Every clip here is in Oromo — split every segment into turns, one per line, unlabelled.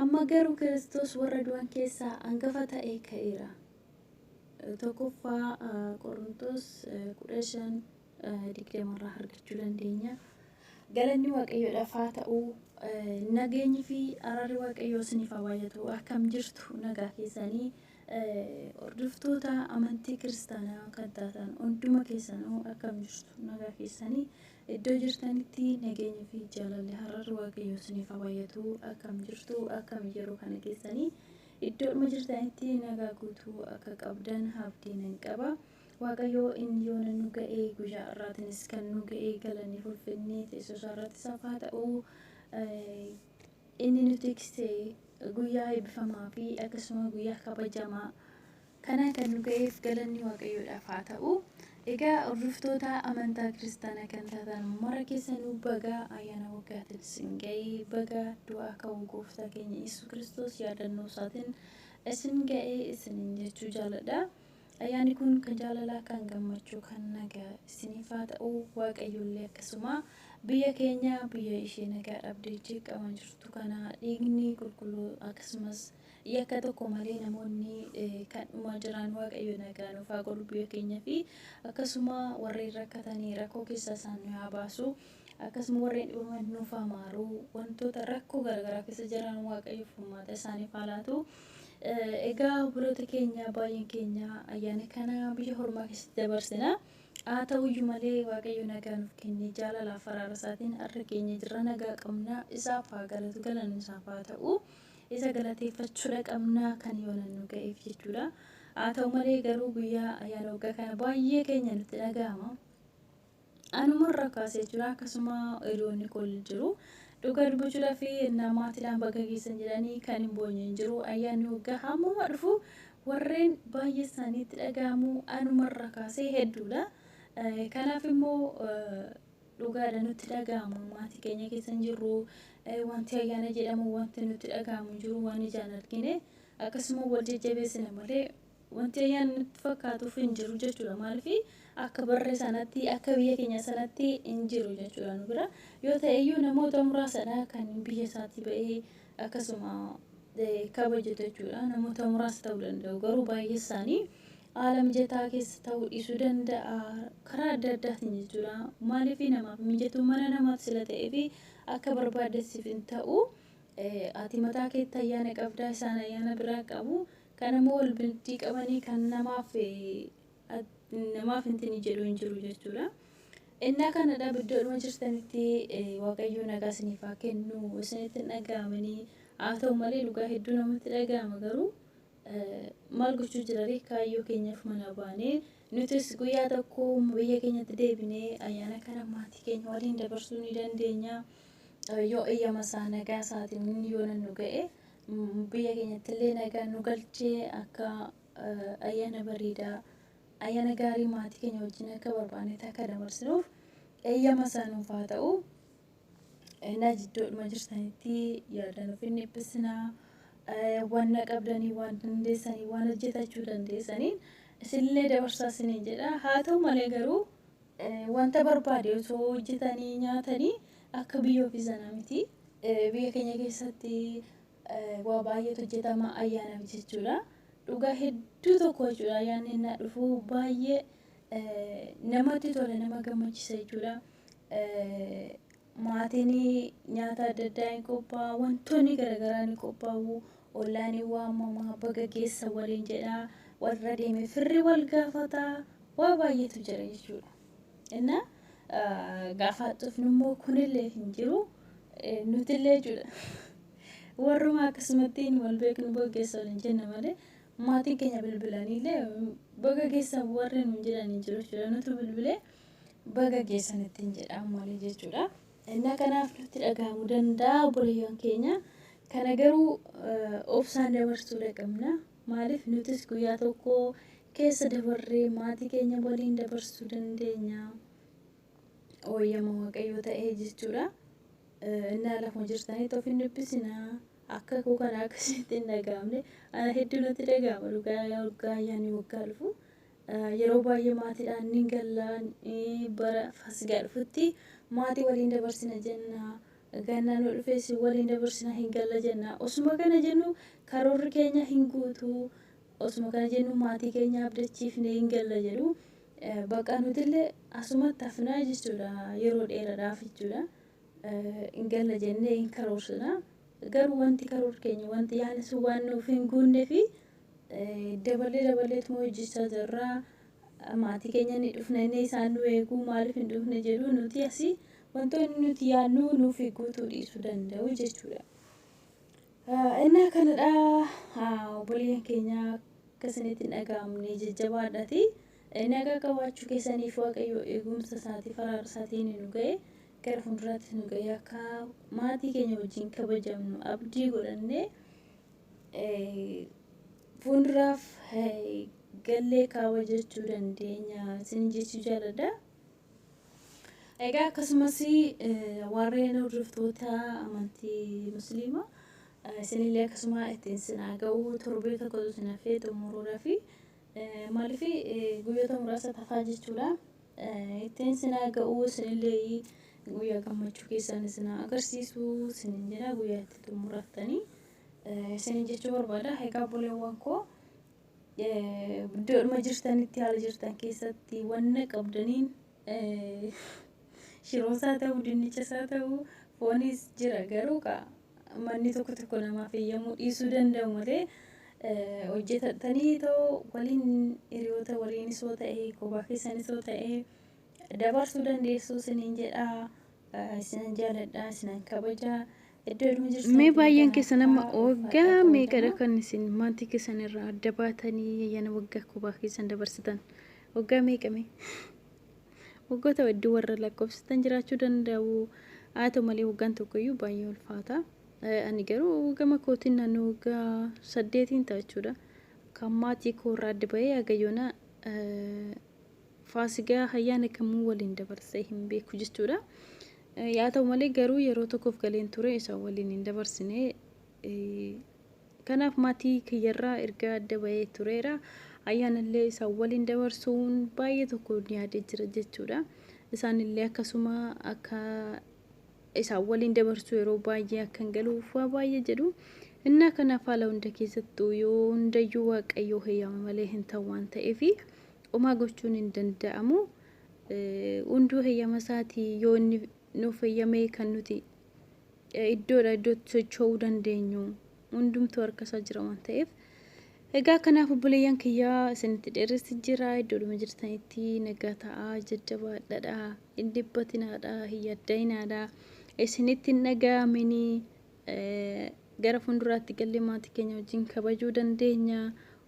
Amma garuu Kiristoos warra du'an keessaa angafa ta'ee ka'eera. 1ffaa Qorontos 15, 20 irraa argachuu dandeenya. Galanni Waaqayyoodhaaf haa ta'u, nageenyi fi araarri Waaqayyoo isiniif haa baay'atu. Akkam jirtu nagaa keessanii? Hordoftoota amantii kiristaanaa kan taatan hunduma keessanuu akkam jirtu nagaa keessanii iddoo jirtanitti nageenyi fi jaalalli hararri waaqayyoo isiniif haa baay'atu akkam jirtu akkam yeroo kana keessanii iddoodhuma jirtanitti nagaa guutuu akka qabdan abdii nan qaba waaqayyoo inni yoona nu ga'ee guyyaa irraatinis kan nu ga'ee galanii ulfinnee teessoo isaa irratti isaaf haa ta'u Inni nu tikse guyyaa eebbifamaa fi akkasuma guyyaa kabajamaa kanaan kan nu ga'eef galanni Waaqayyoodhaaf haa ta'u. Egaa hordoftoota amantaa kiristaanaa kan taatan mara keessanuu baga ayyaana waggaatiin isin ga'e, baga du'aa ka'uu gooftaa keenya Yesuus Kiristoos yaadannoo isaatiin isin ga'e isiniin jechuu jaaladha. Ayyaanni kun kan jaalalaa, kan gammachuu, kan nagaa isiniif haa ta'u. Waaqayyollee akkasuma biyya keenya biyya ishee nagaa dhabdee jeeqama jirtu kana dhiigni qulqulluu akkasumas yakka tokko malee namoonni eh, kan dhumaa jiran waaqayyo nagaa nuuf haa godhu biyya keenya fi akkasuma warreen rakkatanii rakkoo keessa isaan nu haa baasu Akkasuma warreen dhibaman nuuf haa maaru, wantoota rakkoo garaagaraa keessa jiran Waaqayyo furmaata isaaniif haa laatu. Egaa obboloota keenya baay'een keenya ayyaana kana biyya hormaa keessatti dabarsina. Haa ta'uyyuu malee Waaqayyo nagaa nuuf kennee jaalalaaf faraara isaatiin har'a keenya jirra nagaa qabna isaaf haa galatu galanni isaaf haa ta'u. Isa galateeffachuudha qabna kan yoona nu ga'eef jechuudha. Haa ta'u malee garuu guyyaa ayyaana waggaa kana baay'ee keenya nutti dhaga'ama. Anuma irra kaasee jira akkasuma hiriyoonni koo jiru. Dhugaa dubbachuudhaaf ennaa maatiidhaan baga geessan jedhanii kan hin boonye hin jiru. Ayyaanni waggaa hammuma dhufu warreen baay'ee isaaniitti dhaga'amu anuma irra kaasee hedduudha. Kanaaf immoo dhugaadha nutti dhaga'ama maatii keenya keessa hin jirru. Wanti ayyaana jedhamu wanti nutti dhaga'amu hin jiru waan ijaan argine akkasuma wal jajjabeessina malee Wanti ayyaanni nutti fakkaatuuf hin jiru jechuudha. Maaliif akka barree sanatti akka biyya keenya sanatti hin jiru jechuudha nu bira. Yoo ta'eyyuu namoota muraasadha kan biyya isaatii ba'ee akkasuma kabajatu jechuudha. Namoota muraasa ta'uu danda'u garuu baay'ee isaanii haala mijataa keessa ta'uu dhiisuu danda'a karaa adda addaatiin jechuudha. Maaliif namaaf mijatu mana namaaf sila ta'ee fi akka barbaadde siif hin ta'u. Ati mataa keetti ayyaana qabdaa isaan ayyaana biraa qabu. Kan ammoo wal bintii qabanii kan namaaf namaaf hintinii jedhu hin jiru jechuudha. Innaa kanadha biddoodhuma jirtanitti waaqayyoo nagaa isiniif haa kennu isinitti hin dhaga'amanii haa ta'u malee dhugaa hedduu namatti dhaga'ama garuu maal gochuu jiraree kaayyoo keenyaaf manaa baanee nutis guyyaa tokko biyya keenyatti deebinee ayyaana kana maatii keenya waliin dabarsuu ni dandeenya yoo eeyyama isaa nagaa isaatiin yoo nannu ga'e biyya keenyatti illee nagaan nu galchee akka ayyaana bareedaa ayyaana gaarii maatii keenya wajjin akka barbaannetti akka dabarsinuuf eeyyama isaa nuuf haa ta'u. Innaa jidduudhuma jirtanitti yaada nuuf hin dhiphisinaa. Waan na qabdanii, waan dandeessanii, waan hojjetachuu dandeessaniin isinillee dabarsaa isiniin jedha. Haa ta'u malee garuu Wanta barbaade osoo hojjetanii nyaatanii akka biyya ofii sanaa miti. Biyya keenya keessatti waa baay'eetu hojjetama ayyaanaaf jechuudha. Dhugaa hedduu tokko jechuudha ayyaanni innaa dhufu baay'ee namatti tola nama gammachiisa jechuudha. Maatiin nyaata adda addaa hin qophaa'a, wantoonni garagaraa ni qophaa'u, ollaan hin waamama, baga geessan waliin jedha, walirra deemee firri wal gaafata, waa baay'eetu jira jechuudha. Inna gaafa dhufnu immoo kunillee hin jiru, nutillee jechuudha. Warruma akkasumattiin wal beeknu baga geessan waliin jenna malee maatiin keenya bilbilaniillee baga geessan warri nuun jedhan hin jiru jechuudha. Nutu bilbilee baga geessan ittiin jedhaa malee jechuudha. Innaa kanaaf nutti dhaga'amu danda'a obboleeyyan keenya. Kana garuu obsaan dabarsuudha qabna. Maaliif nutis guyyaa tokko keessa dabarree maatii keenya waliin dabarsuu dandeenya. Ooyyama waaqayyoo ta'ee jechuudha. Innaa lafuma jirtanitti of hin dhiphisinaa. Akka koo kana akkasitti hin dhaga'amne. Ana hedduu natti dhaga'ama dhugaa waggaa ayyaanni waggaa dhufu. Yeroo baay'ee maatiidhaan ni galla, bara Faasigaa dhufutti maatii waliin dabarsina jenna, gannaan yoo dhufes waliin dabarsina hin galla jenna. Osuma kana jennu karoorri keenya hin guutu, osuma kana jennu maatii keenya abdachiifne hin galla jedhu. Bakka nutillee asumatti hafnaa jechuudha yeroo dheeraadhaaf jechuudha. Hin galla jennee hin karoorsina. Garuu wanti karoorri keenya wanti yaadni sun waan nuuf hin guunneef Daballee daballeetuma hojjechaa jirra. Maatii keenya ni dhufna inni isaan nu eeguu maaliif hin dhufne jedhu nuti asii wantoonni nuti yaadnu nuuf guutuu dhiisuu danda'u jechuudha. Innaa kanadha obboleeyyan keenya akka isinitti hin dhaga'amne jajjabaadhati. Nagaa qabaachuu keessaniif waaqayyo eegumsa isaatii faraara isaatiin nu ga'e gara fuulduraatti nu ga'e akka maatii keenya wajjin kabajamnu abdii godhannee fuunduraaf gallee kaawwa jechuu dandeenya sin jechuu jaaladha. Egaa akkasumas warreen hordoftoota amantii musliimaa isinillee akkasuma ittiin sinaa ga'uu torbee tokkotu isin hafee xumuruudha fi maaliif guyyoota muraasa tafaa jechuudha. Ittiin sinaa ga'uu isinillee guyyaa gammachuu keessan isinaa agarsiisu isin jedha guyyaa itti xumurattanii. isiniin jechuu barbaada. Egaa obboleewwan koo iddoodhuma jirtanitti haala jirtan keessatti wanna qabdaniin shiroosaa ta'uu dinnichasaa ta'uu foonis jira garuu kaa manni tokko tokko namaaf eeyyamuu dhiisuu danda'u malee hojjetatanii ta'uu waliin hiriyoota waliinis yoo ta'e kophaa keessanis yoo ta'e dabarsuu dandeessu isiniin jedha isinan jaaladha isinan kabaja iddoo ilmi jirtu mee baay'een keessan amma waggaa meeqadha kan isin maatii keessan irraa adda baatanii ayyaana waggaa kophaa keessan dabarsitan waggaa meeqame waggoota hedduu warra lakkoofsitan jiraachuu danda'u haa ta'u malee waggaan tokkoyyuu baay'ee ulfaata ani garuu gama kootiin naannoo waggaa saddeetiin ta'a jechuudha kan maatii koo irraa adda bahee hagayyoona Faasigaa hayyaana kamuu waliin dabarsee hin beeku jechuudha. Yaa ta'u malee garuu yeroo tokkoof galeen ture isa waliin hin dabarsine. Kanaaf maatii kiyyarraa erga adda bahee tureera. Ayyaanallee isa waliin dabarsuun baay'ee tokko yaadee jira jechuudha. Isaanillee akkasuma akka isa waliin dabarsuu yeroo baay'ee akkan galuuf waa baay'ee jedhu. Innaa kanaaf haala hunda keessattuu yoo hundayyuu waaqayyoo heyyama malee hin ta'u waan ta'eefi. Homaa gochuun hin danda'amu. Hunduu heyyama isaati yoo inni nuuf heyyamee kan nuti iddoodha iddootti socho'uu dandeenyu hundumtuu harka isaa jira waan ta'eef. Egaa kanaaf obboleeyyan kiyyaa isinitti dheeressi jira iddoodhuma jirtanitti nagaa ta'aa jajjabaadhadha hin dhiphatinaadha hin yaddayinaadha isinitti hin dhaga'aminii Gara fuulduraatti gallee maatii keenya wajjin kabajuu dandeenya.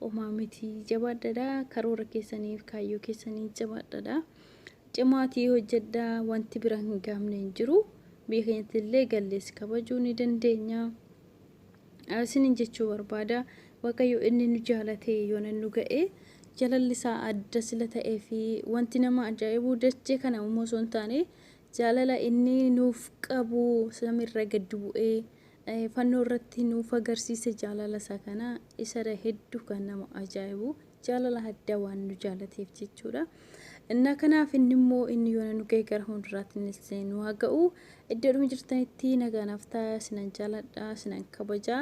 Omaa miti jabaadhadha. Karoora keessaniif kaayyoo keessanii jabaadhadha. Cimaatii hojjedha wanti bira hin gaamne hin jiru. Biyya keenyatti illee gallees kabajuu ni dandeenya. Isinin jechuu barbaada. Waaqayyo inni nu jaalatee yoona nu ga'e jalalli isaa adda sila ta'ee fi wanti nama ajaa'ibuu dachee kana uumuu osoo hin taane Jaalala inni nuuf qabu samiirraa gad bu'ee fannoo irratti nuuf agarsiise jaalala isaa kana isadha hedduu kan nama ajaa'ibu jaalala addaa waan nu jaalateef jechuudha. Innaa kanaaf inni immoo inni yoona nu ga'e gara fuulduraatti innis nu haa ga'u iddoodhuma jirtanitti nagaanaaf ta'a sinan jaaladha sinan kabajaa.